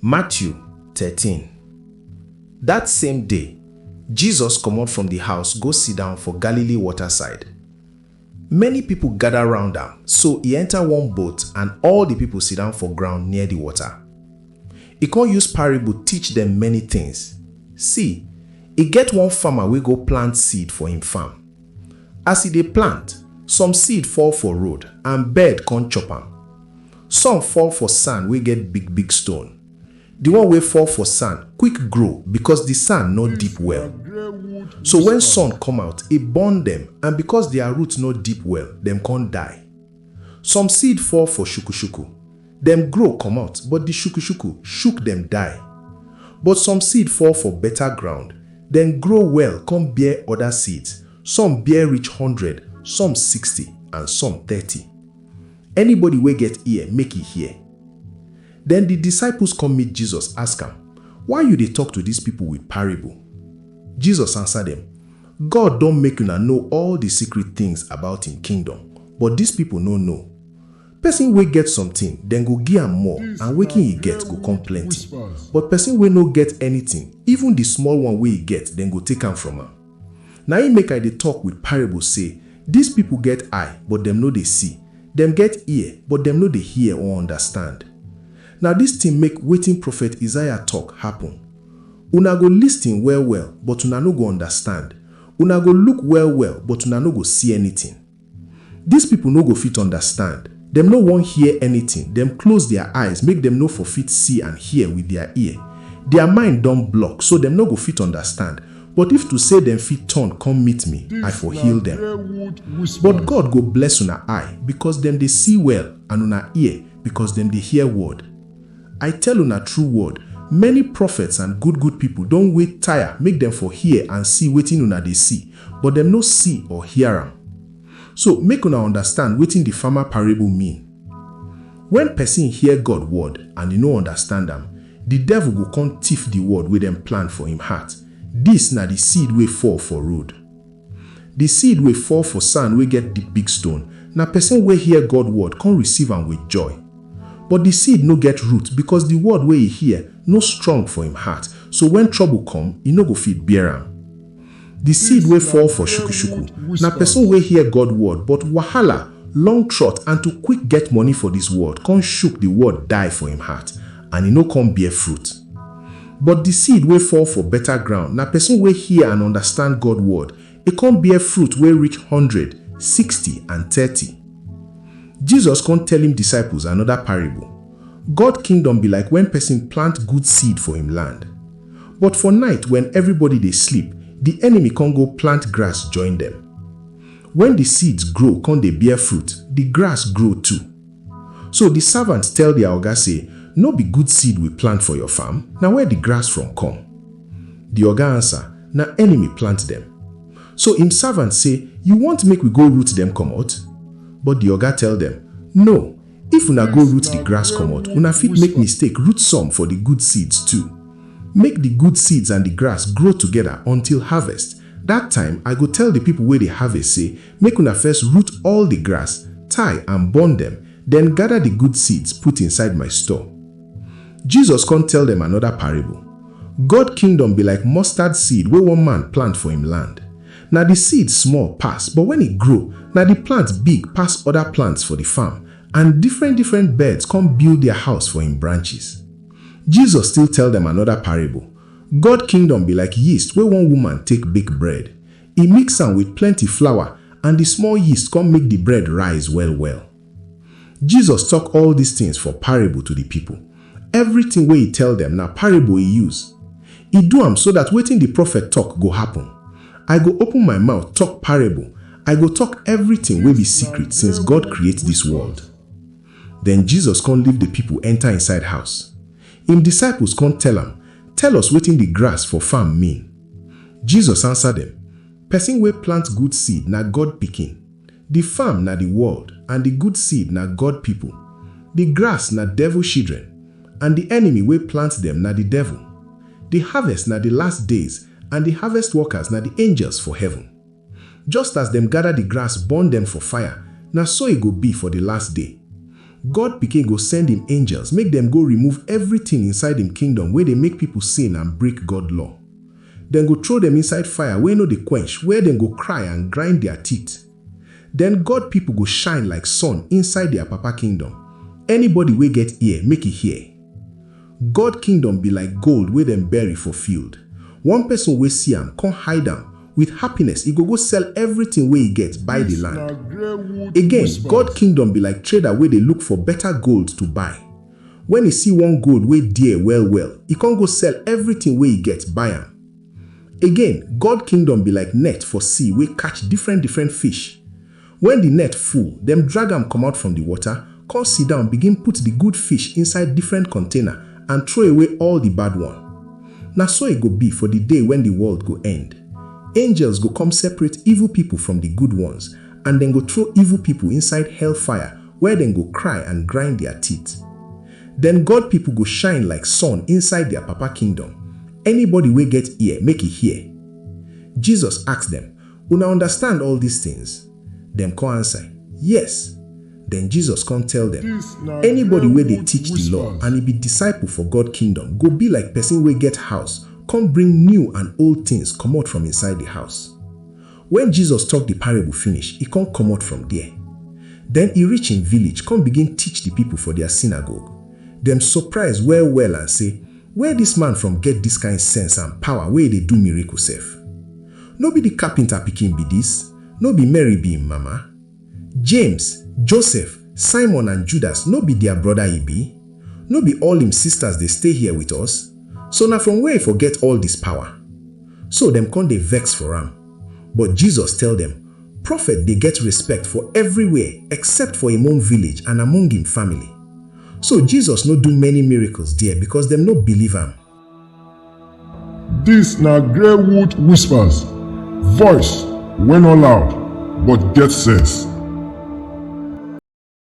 Matthew thirteen Dat same day, Jesus komot from di house go sidan for Galilee wota side. Many pipo gada round am, so e enta one boat and all di pipo sidan for ground near di wota. E con use parable teach dem many tins. See, e get one farmer wey go plant seed for im farm. As e dey plant, some seed fall for road and bird come chop am. Some fall for sand wey get big big stone. The one wey fall for sand quick grow because the sand no deep well. So when sun come out, e burn dem and because their root no deep well, dem come die. Some seed fall for shuku-shuku, dem grow komot, but di shuku-shuku shuk dem die. But some seed fall for beta ground, dem grow well kon bear oda seeds, some bear reach hundred, some sixty, and some thirty. Anybody wey get ear, make e hear. Den di disciples kom meet Jesus, ask am, Why yu dey tok to dis pipol wit parable? Jesus ansa dem, God don make una know all di secret tins about im kingdom, but dis pipo no know. Pesin wey get sometin, dem go gi am more and wetin e get go con plenty, but pesin wey no get anytin, even di small one wey e get, dem go take am from am. Na im make I dey tok wit parables sey, Dis pipo get eye, but dem no dey see, dem get ear, but dem no dey hear or understand. Na dis tin make wetin Prophet Isaiah tok happen. Una go listin well-well, but una no go undastand, una go luk well-well, but una no go si anytin. Dis pipol no go fit undastand, dem no won hear anytin, dem klose dia eyes make dem no for fit si and hear with dia ear. Dia mind don blok, so dem no go fit undastand, but if to sey dem fit turn kom meet mi, I for heal dem. But God go bless una eye, bikos dem dey si well, and una ear, bikos dem dey hear word. I tell una true word, many prophets and good good people don wait tire make dem for hear and see wetin una dey see, but dem no see or hear am. So make una understand wetin the farmer parable mean. When person hear God word and e no understand am, the devil go come thief the word wey dem plant for him heart, this na the seed wey fall for road. Di seed wey fall for sand wey get di big stone na pesin wey hear God word kon receive am with joy. But di seed no get root bikos di word wey e hear no strong for im heart, so wen trouble kom, e no go fit bear am. Di seed wey fall for shuku-shuku na pesin wey hear God word, but wahala, long trot and to quick get money for dis world kon shuk di word die for im heart, and e no kon bear fruit. But di seed wey fall for beta groun na pesin wey hear and undastand God word, e kon bear fruit wey reach hundred, sixty, and thirty. Jesus kon tell im disciples anoda parable, God kingdom be like wen pesin plant good seed for im land. But for night wen evribody dey sleep, di enemy kon go plant grass join dem. Wen di seeds grow kon dey bear fruit, di grass grow too. So di savants tell dia oga sey, No be good seed we plant for your farm? Na where di grass from come? Di oga ansa, Na enemy plant dem. So im savants sey, You want make we go root dem komot? But di oga tell dem, No, if una go root di grass komot, una fit make mistake root some for di good seeds too. Make di good seeds and di grass grow togeda until harvest, dat time I go tell di pipo wey dey harvest sey, Make una first root all di grass, tie and burn dem, den gada di good seeds put inside my store. Jesus kon tell dem anoda parable, God Kingdom be like mustard seed wey one man plant for im land. Na di seed small pass, but wen e grow, na di plant big pass oda plants for di farm, and different-different birds kon build dia house for im branches. Jesus still tell dem anoda parable, God Kingdom be like yeast wey one woman take bake bread. E mix am with plenty flour and di small yeast come make di bread rise well well. Jesus talk all dis things for parable to di people. Everything wey e tell dem na parable e use. E do am so dat wetin di prophet talk go happen. I go open my mouth talk parable, I go talk everything wey be secret since God create dis world. Den Jesus kon leave di pipol enta inside house. Im disciples kon tell am, Tell us wetin di grass for farm mean. Jesus ansa dem, Pesin wey plant good seed na God Pikin. Di farm na di world and di good seed na God pipol. Di grass na devil shidren, and di enemy wey plant dem na di devil. Di harvest na di last days and di harvest workers na di angels for heaven. Just as dem gather the grass burn dem for fire, na so e go be for the last day. God Pikin go send im angels make dem go remove everything inside im kingdom wey dey make people sin and break God law. Dem go throw dem inside fire wey no dey quench where dem go cry and grind their teeth. Then God people go shine like sun inside their Papa kingdom. Anybody wey get ear, make e hear. God kingdom be like gold wey dem bury for field, one person wey see am come hide am, with happiness e go go sell everything wey e get buy the land. Again, God kingdom be like trader wey dey look for better gold to buy. When e see one gold wey dear well well, e come go sell everything wey e get buy am. Again, God kingdom be like net for sea wey catch different different fish. Wen di net full, dem drag am komot from di water, kon sidown begin put di good fish inside different kontaina and trow-away all di bad one. Na so e go bi for di day wen di world go end. Angels go kom separate evil pipol from di good ones and dem go trow evil pipol inside hellfire where dem go kry and grind dia teeth. Den God pipol go shine like sun inside dia Papa Kingdom. Anybody wey get ear, make e hear. Jesus ask dem, Una understand all dis tins? Dem kon ansa, Yes! Den Jesus kon tell dem, Anybody wey dey teach di law and e be disciple for God Kingdom go be like pesin wey get house kon bring new and old tins komot from inside di house. Wen Jesus tok di parable finish, e kon komot from der. Den e reach im village kon begin teach di pipol for dia synagogue. Dem surprise well-well and sey, Where this man from get this kind sense and power wey e dey do miracle sef? No be the carpenter pikin be this? No be Mary be im mama? James, Joseph, Simon and Judas no be their brother e be? No be all im sisters dey stay here with us? So na from where e for get all this power? So dem come dey vex for am. But Jesus tell dem, Prophet dey get respect for everywhere except for im own village and among im family. So Jesus no do many miracles there because dem no believe am. Dis na Greywood Whispers, voice wey no loud but get sense.